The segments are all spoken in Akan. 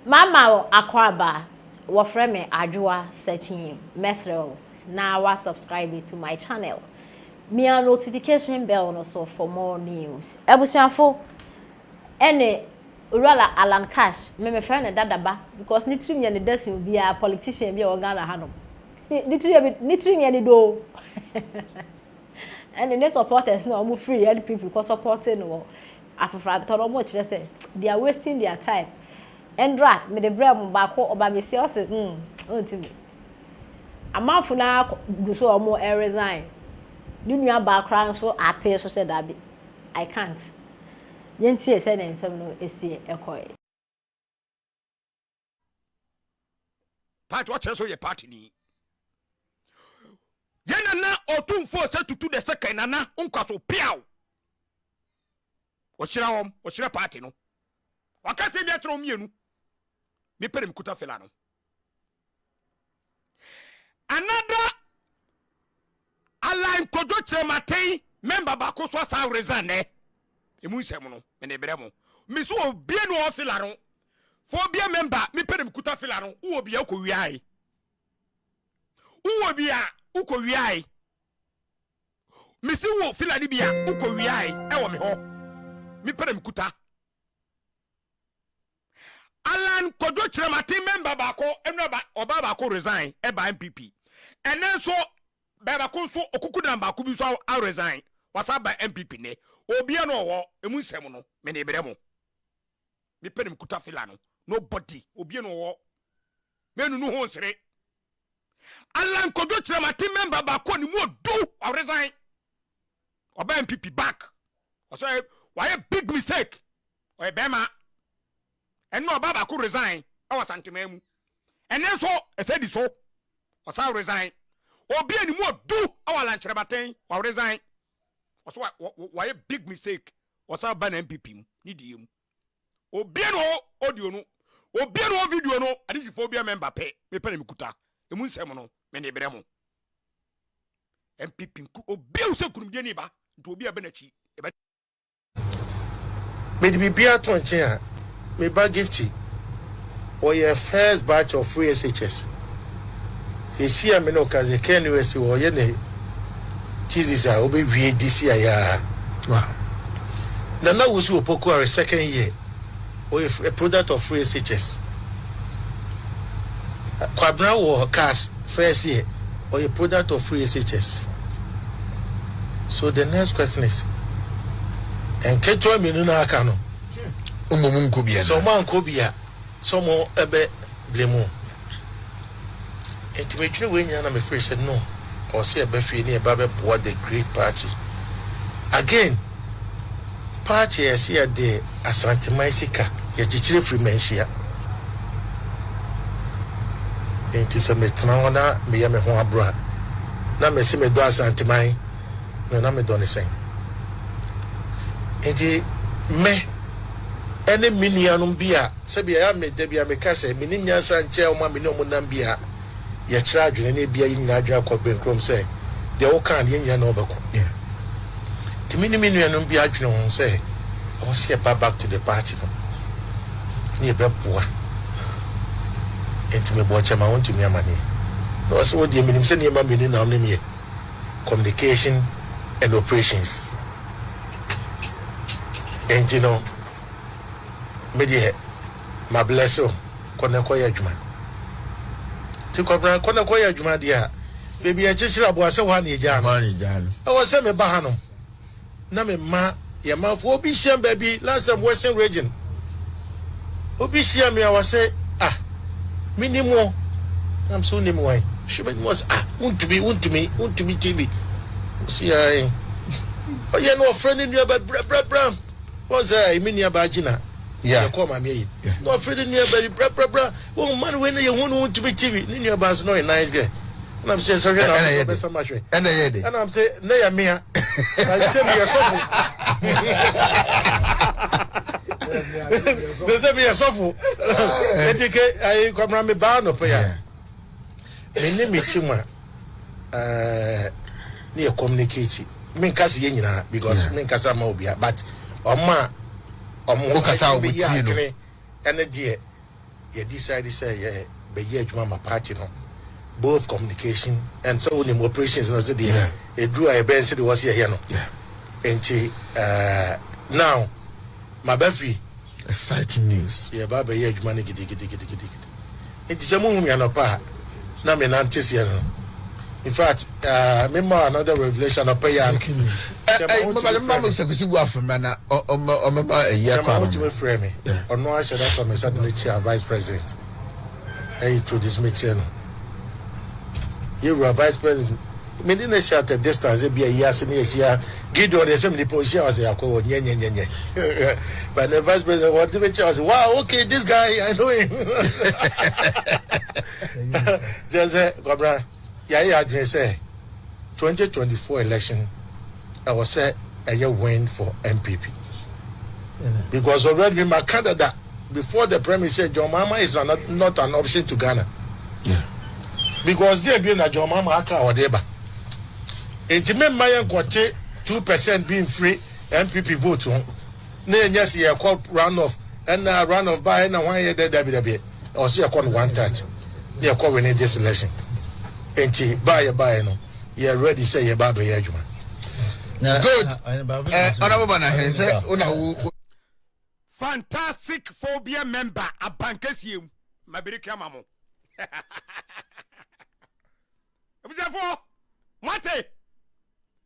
Mama wo akwaaba, wɔfrɛ me Adwoa Sakyim, mɛsrɛ wo na wa subscribe to my channel, mia notification bell no so for more news. Abusuafo, ɛne Owura la Allan Cash, me mefrɛ no Dada ba because ne tirim yɛ ne dɛ sen obiara politician bi a ɔwɔ Ghana hanom. Ne tiri yɛ me, ne tirim yɛ ne dɛ o, ɛne ne supporters no a wɔn firi NPP kɔ supporte no wɔ Afoforo atɔ no, wɔkyerɛ sɛ they are wasting their time. Ɛndrɔ a mede brɛɛ wɔn baako, ɔba besia, ɔse mm ɔntumi. Amanfo no ara gu so a wɔresign. Ne nua baa koraa nso apee so sɛ dabi, I can't. Yɛntie sɛnea nsɛm no sii kɔe. Part ɔkyerɛ so yɛ part ni. Yɛ nana ɔtumfoɔ sɛ tutu the second nana nkwaso piaw. Ɔhyira wɔn, ɔhyira party no. Ɔka sɛ mi akyerɛ wɔn mmienu. Me pere me kuta fela no. Another Alan Kojo Kyerematen member baako nso asan resign nɛ. Emu nsɛm no, me de brɛ mo. Me so obie no ɔwɔ fila no. Fa obie member, me pɛ na me kuta fila no. Wowɔ bia wokɔ wiae. Wowɔ bia wokɔ wiae. Me si wo fila no bia wokɔ wiae ɛwɔ me hɔ. Me pɛ na me kuta. Allan Kwadwo Kyerem Aten mɛmba baako ɛnura ba ɔbaa baako resign ɛbaa NPP ɛnɛ nso bɛɛbako nso okukudan baako bi nso a resign wasa aba NPP nnɛ obia no ɔwɔ emu nsɛm no mene brɛ mo mepɛ ne mekuta fila no nobody obia no ɔwɔ mɛnunu ho nsere Allan Kwadwo Kyerem Aten mɛmba baako ne mu odu ɔresign ɔbaa NPP back ɔsɛ wayɛ big mistake ɔyɛ bɛrima ɛne ɔbaa baako resign ɛwɔ Asanteman mu ɛne nso ɛsɛ di so ɔsan resign obi a ne mu ɔdu ɛwɔ Alankyerɛbaten wɔ resign ɔso wɔyɛ big mistake ɔsan ba na MPP mu ne die mu obi a ne wɔ audio no obi a ne wɔ video no adesifoɔ bi a mɛmba pɛ mepɛ na mekuta ɛmu nsɛm no mene berɛ mo MPP nku obi a wosɛ kunumdie ne ba nti obi a bɛ n'akyi Mede biribiara to nkyɛn a, me ba Gifty, ɔyɛ first batch of free SHS. Seesei a me ne wo kasa yi, Ken US wɔ hɔ, ɔyɛ ne thesis a ɔbɛwie this year yi ara. Wow. Nana Wusu Opoku Are second year Ɔyɛ a product of free SHS. Kwabena wɔ cars first year, ɔyɛ product of free SHS. So the next question is, nketewa mmienu na aka no, wɔn mu nkɔ bi anaa? Sɛ wɔn ankɔ bi a, sɛ wɔn ɛbɛ blame wɔn. Enti medwene wei nyinaa na mefree sɛ no ɔwɔ sɛ yɛba fie na yɛba bɛboa the great party again party a yɛse yɛde asanteman sika yɛkyekyere firi manhyia enti sɛ metena hɔ na meyɛ me ho aboro a na mese medɔ asanteman no na medɔ ne sɛn enti me ɛne me nuanom bi a Sɛbi ɛyɛ a me da biara me ka sɛ me nim nyansa nkyɛn wɔn a me ne wɔn nam bi a yɛ kyerɛ adwene na ebia yɛn nyinaa adwene akɔ benkurom sɛ deɛ wo kaa no yɛn nyinaa na ɔbɛkɔ nti me ne me nuanom bi adwene ho sɛ ɛwɔ sɛ yɛba back to the party no ne yɛ bɛ boa nti me bɔ ɔkyɛ ma wɔn tumi amaneɛ na wɔ sɛ wɔ deɛ me nim sɛ nneɛma mmienu na wɔn nim yɛ communication and operations nti no me deɛ ma bless wo kɔ na kɔ yɛ adwuma nti kɔbena kɔ na kɔ yɛ adwuma deɛ a baabi a ɛkyekyere aboa sɛ hɔ a na yɛgyaa no ɛwɔ sɛ meba ha nom na mema yɛ manfoɔ obi hyia m baabi last time western region obi hyia me a wɔsɛ ah menim wo nam sɛ wonim wan hwɛ bɛnim wɔ sɛ ah wontumi wontumi wontumi tv nam sɛ yɛn ɔyɛ no ɔfrɛ ne nnuaba brɛbrɛbrɛ Wɔn sɛ ɛyɛ me nua baa gyina na yɛkɔɔ maame ayi na ɔfiri de nua baa bi brabrabra wɔn mma no wei na yɛhu no ntumi tv ne nua baa nso na ɔyɛ nice girl ɛna m sɛ sɛ hwɛ na ɔbɛsɛ ɔbɛsɛ ma hwɛ ɛna yɛ de ɛna m sɛ na yɛ mea na nsɛ mi yɛ sɔfo na nsɛ mi yɛ sɔfo ɛdi ke ayi kɔmra mi baa nɔpɛ ya mi ni mi ti mu a eh, ne yɛ communicate menka se yɛ nyinaa because yeah. menkasa ma obia but ɔma ɔmokasa ɔmobɛyɛ adwene ɛne deɛ yɛ decide sɛ yɛ bɛyɛ adwuma ma party no both communication and sɛ wonim operations no sɛ deɛ ɛduru a yɛbɛyɛ sɛ deɛ wɔ se yɛyɛ no nti eh, now maba fi. Exciting news. Yɛreba abɛyɛ adwuma no gidigidigidigidi. Enti sɛ muhu me anɔpa a, na me nan te seɛ no. In fact, ah, me ma another revelation anɔpa yi ara no. Sɛ ma wotumi frɛ me. Sɛ kusi bu afem na na ɔmɛma ɛyi akɔ ano. Sɛ ma wotumi frɛ me. Ɔno ara hyɛ da sɔ me nsa de me kyia vice president. Ɛyi introduce me kyerɛ no. Yɛwura vice president. Me de no hyɛ at a distance ebia yi ase ne yɛhyia Gideon deɛ sɛ menipa ɔhyia wɔ sɛ yɛakɔ wɔ nyɛnyɛnyɛnyɛ but ne vice president wɔde me kyɛ wɔ sɛ wow okay this guy I know him gyɛ sɛ kwabena yɛayɛ adwene sɛ 2024 election Ɛwɔ sɛ ɛyɛ win for NPP because already ma ka dada before the premise sɛ John Mahama is not, not an option to Ghana yeah. because deɛ bi na John Mahama aka a ɔde ba nti me mma yɛ nkɔte two percent bi mfiri NPP vote ho. na yɛnyɛ se yɛkɔ run off ɛna run off ba ɛna hwan yɛ dɛ dabi dabi ɛwɔ se yɛkɔ no one touch na yɛkɔ wene this election nti ba yɛ ba yɛ no yɛ ready sɛ yɛ ba abɛyɛ adwuma good honorable banahene sɛ wona wo fantastic phobia member abankɛsie mu mabere ka ma mo abusuafoɔ moate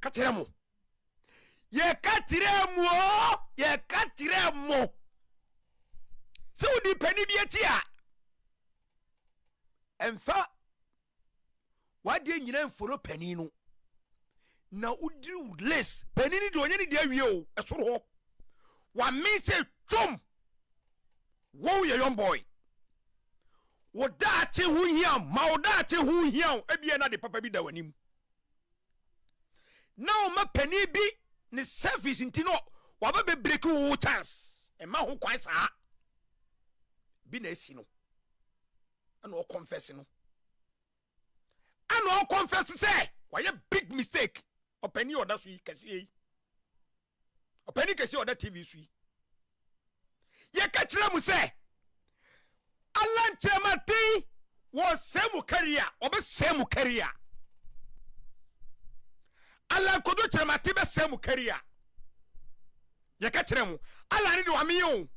yɛka kyerɛ mo yɛka kyerɛ mo yɛka kyerɛ mo sɛ wodi panin bi akyi a ɛmfa wadeɛ nyina mfolo panin no na wodiri wo list panin no deɛ ɔnyɛ ne deɛ awie o ɛsoro hɔ wame sɛ twom wo yɛ young boy wo daakye ho hia ma wo daakye ho hia o ebia na de papa bi da w'anim na ɔma panin bi ne service nti no waba bɛ break wo chance ɛma ho kwan saa bi na esi no ɛna ɔkɔnfɛs no ɛna ɔkɔnfɛs sɛ wayɛ big mistake ɔpanin ɔda so yi kɛseɛ yi. ɔpanin kɛse a ɔda tv so yi yɛka kyerɛ mu sɛ alan kyerɛmaten wɔsɛe mu kari a ɔbɛsɛe mu kari a alan kodo kyerɛmaten bɛsɛe mu kari a yɛka kyerɛ mu alan ne de wameyɛ o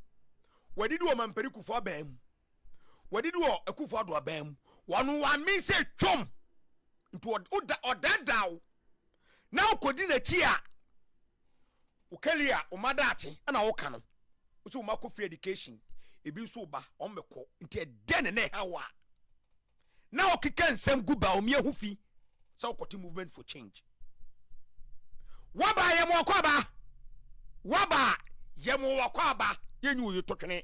wadidi wɔ mampani kufoɔ abaa mu wadidi wɔ akufoɔ ado abaa mu wɔn wame sɛ twom nti ɔdaadaa wo na wokɔdi n'akyi a wo career a wo ma daakye ɛna woka no wo sɛ wo ma kɔ free education ebi nso wo ba wɔn bɛkɔ nti ɛdɛn ne na ɛha wo a na wokeka nsɛm gu ba omi ahu fi sɛ wokɔte movement for change waba yɛ mo ɔkɔ aba waba yɛ mo ɔkɔ aba yɛnyi wo yɛ totwene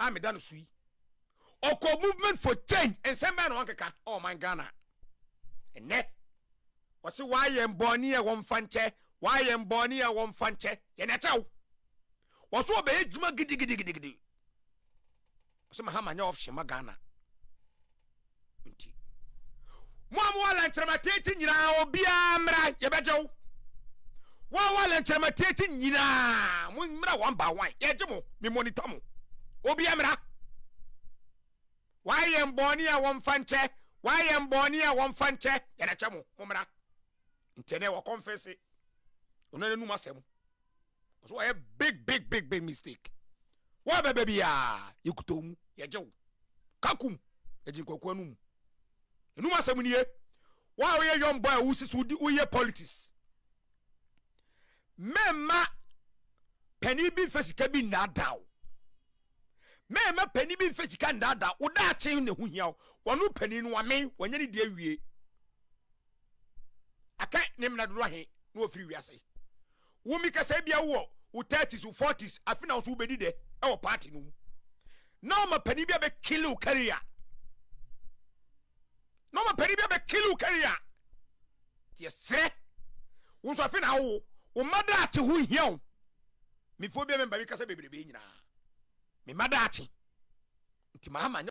a meda no so yi ɔkɔ movement for change nsɛm bɛn na wankeka ɔman ghana ɛnɛ wɔse waayɛ mbɔne a wɔmfa nkyɛ waayɛ mbɔne a wɔmfa nkyɛ yɛn akyɛ wo wɔso ɔbɛyɛ dwuma gidigidigidigidi wɔse mahama nyɛ option ma ghana nti. Mo a mowɔ lɛnkyerɛma tiati nyinaa, obiara mmra, yɛbɛgye wo. Wɔn a wɔwɔ lɛnkyerɛma tiati nyinaa, mo mmra wɔn ba wɔn, yɛgye mo, me monitor mo. Obiara mmra. Wɔayɛ yɛn bɔne a wɔmfa nkyɛ, wɔayɛ yɛn bɔne a wɔmfa nkyɛ, yɛde akyɛ mo, mo mmra. Nti ɛnɛ wɔkɔmfɛse, ɔno anum asɛm, ɔsɛ wɔyɛ big big big big mistake wɔn a bɛbɛ biara yɛkuta wɔn mu yɛgye wo kakum yɛgye nkwakuo no mu ɛnum asɛm nie wɔn a woyɛ young boy a wosi so woyɛ politics mɛma panin bi mfa sika bi nnaadaa wo Mɛɛma panin bi mfa sika ndaadaa wo daakye na ɛho hia wo. Wɔno panin no wamen, wanya ne deɛ awie. Aka ne mena dodo ahe na wafiri wiase. Wo mi kasa bia wowɔ wo 30s, wo 40s, afe na wo so wobɛdi dɛ ɛwɔ party no mu. Na ɔma panin bi abɛ kill wo career. Na ɔma panin bi abɛ kill wo career. Tiɛ serɛ. Wo nso afe na awo, wo mma daakye ho hia wo. Me phobia member bi kasa bebrebe nyinaa me mma daakye nti maa ma nyɛ.